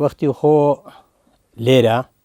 وەختی خۆ لێرە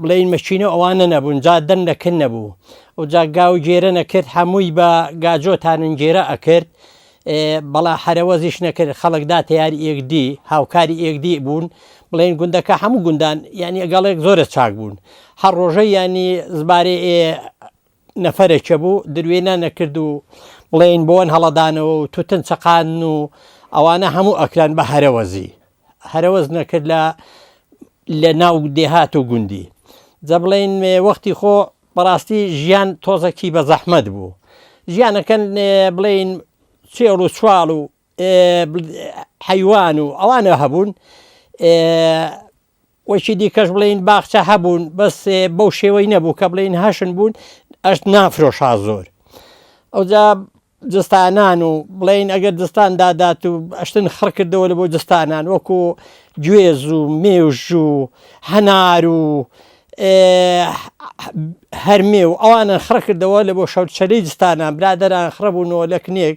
بڵێین مەچینە ئەوانە نەبوون جا دەن نەکرد نەبوو و جا گاو گێرە نەکرد هەمووی بە گاجۆ تانون گێرە ئەکرد بەڵا حرەوەزیش نەکرد خەڵکدا تیاری ئێکدی هاوکاری ئێکدی بوون بڵێن گوندەکە هەموو گوندان یعنی ئەگەڵێک زۆرە چاک بوون هەر ڕۆژە ینی زبارێ نەفەرێکە بوو دروێ نەنەکرد و بڵێین بۆن هەڵەدانەوە و توتن چەقان و ئەوانە هەموو ئەکران بە هەرەوەزی هەرەوەز نەکرد لە لە ناو دێهات و گوندی جە بڵێن وەختی خۆ بەڕاستی ژیان تۆزەکی بە زەحمەت بوو ژیانەکەن بڵین چێڵ و چوال و حەیوان و ئەوانە هەبوون وەکی دیکەش بڵێین باخچە هەبوون بەس بەو شێوەی نەبوو کە بڵێین هەشن بوون ئەشت نافرۆشا زۆر ئەوجا جستانان و بڵین ئەگەر جستان دادات و ئەشتن خڕ کردەوە لە بۆ جستانان وەکو گوێز و مێوژ و هەنار و هەرمێ و ئەوانە خڕ کردەوە لە بۆ شەوچەلی جستانان برادران خڕبوونەوە لە کنێک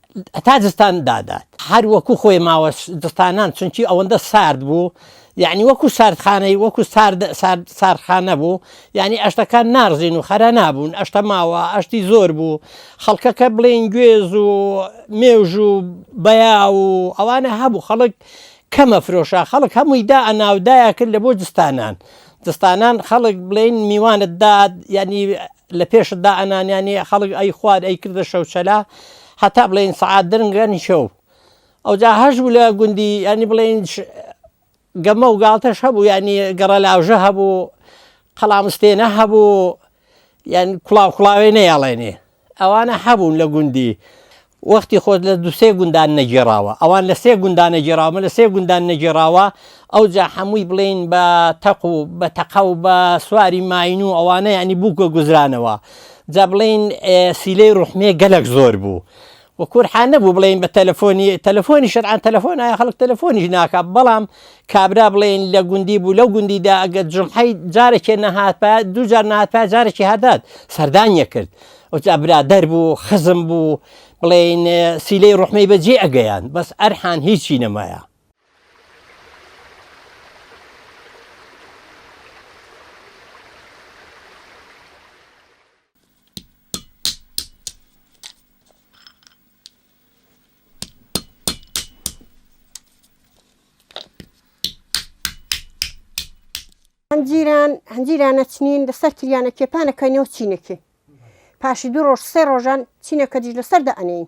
هەتا زستان دادات هەر وەکو خۆی ماوە زستانان چونکی ئەوەندە سارد بوو یعنی وەکو ساردخانەی وەکو سارد سارد ساردخانە بوو یعنی ئەشتەکان نارزین و خەرا نابوون ئەشتە ماوە ئەشتی زۆر بوو خەڵکەکە بڵێن گوێز و مێژ و بەیا و ئەوانە هەبوو خەڵک کەمە فرۆشە خەڵک هەمووی دا ئەناودایە کرد لە بۆ زستانان دستانان خەڵک بڵێن میوانت داد یانی لە پێشت دا ئەنان یانی خەڵک ئەی خوارد ئەی کردە شەوچەلا هەتا بڵێن سەعات درنگە نیشەو ئەو جا هەش بوو لە گوندی ینی بڵێن گەمە و گاڵتەش هەبوو ینی گەڕە لاوژە هەبوو قەڵامستێنە هەبوو یان کوڵاو کوڵاوێ نەیاڵێنێ ئەوانە هەبوون لە گوندی وەختی خۆت لە دوو سێ گوندان نەگێڕاوە ئەوان لە سێ گوندان نەگێڕاوە من لە سێ گوندان نەگێڕاوە ئەوجا حەمووی بڵێین بە تەق و بە تەقە و بە سواری ماین و ئەوانە یعنی بووکە گوزرانەوە جا بڵێین ئێ سیلەی ڕوحمێ گەلەک زۆر بوو و کورحان نەبوو بڵێین بە تەلەفۆنی تەلەفۆنی شەرعان تەلەفۆن ئایا خەڵک تەلەفۆنیش ناکا بەڵام کابرا بڵێین لە گوندی بوو لەو گوندیدا ئەگەر جمحەی جارێکێ نەهات پا دوو جار نهات پا جارێکی هادات سەردانیە کرد ئەوجا برادەر بوو خزم بوو بڵێین سیلەی ڕحمەی بەجێ ئەگەیان بەس ئەرحان هیچی نەمایە هەنجیران هەنجیرانە چنین لەسەر تریانە کێپانەکەینەوە چینەکەین پاشی دوو ڕۆژ سێ ڕۆژان چینەکە دیش لەسەر دەئەنین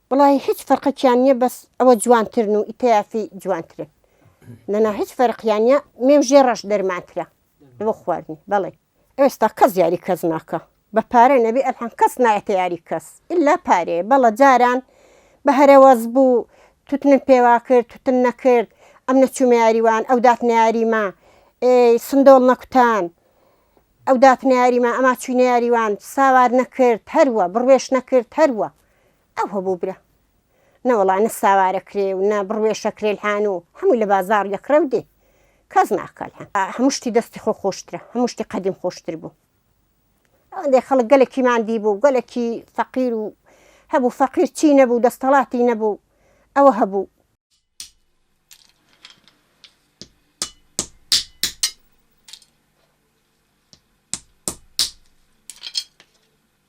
وەڵاهی هیچ فەرقەکیان نیە بەس ئەوە جوانترن و ئیتەیافی جوانترن نەنا هیچ فەرقیان نیە مێوژێ ڕەش دەرمانترە بۆ خواردنی بەڵێ ئێستا کەس یاری کەس ناکا بە پارە نەبی ئەلحەم کەس نایەتە یاری کەس ئیلا پارەیە بەڵە جاران بە هەرەوەز بوو توتنم پێوا کرد توتن نەکرد ئەم نەچوومە یاری وان ئەو داتنە یاریمە ئێ سندۆڵ نەکوتان ئەو داتنە یاریمە ئەما چوینە یاری وان ساوار نەکرد هەروە بڕوێش نەکرد هەروە ئەو هەبوو برا نەوەڵا نە ساوارەکرێ و نە بڕوێشەکرێ الحان و هەمووی لە بازاڕ یەکڕێ و دێ کەس ناکا الحان هەموو شتی دەستی خۆ خۆشترە هەموو شتی قەدیم خۆشتر بوو ئەوەندەی خەڵک گەلەکی ماندی بوو گەلەکی فەقیر و هەبوو فەقیر چی نەبوو دەستەڵاتی نەبوو ئەوە هەبوو.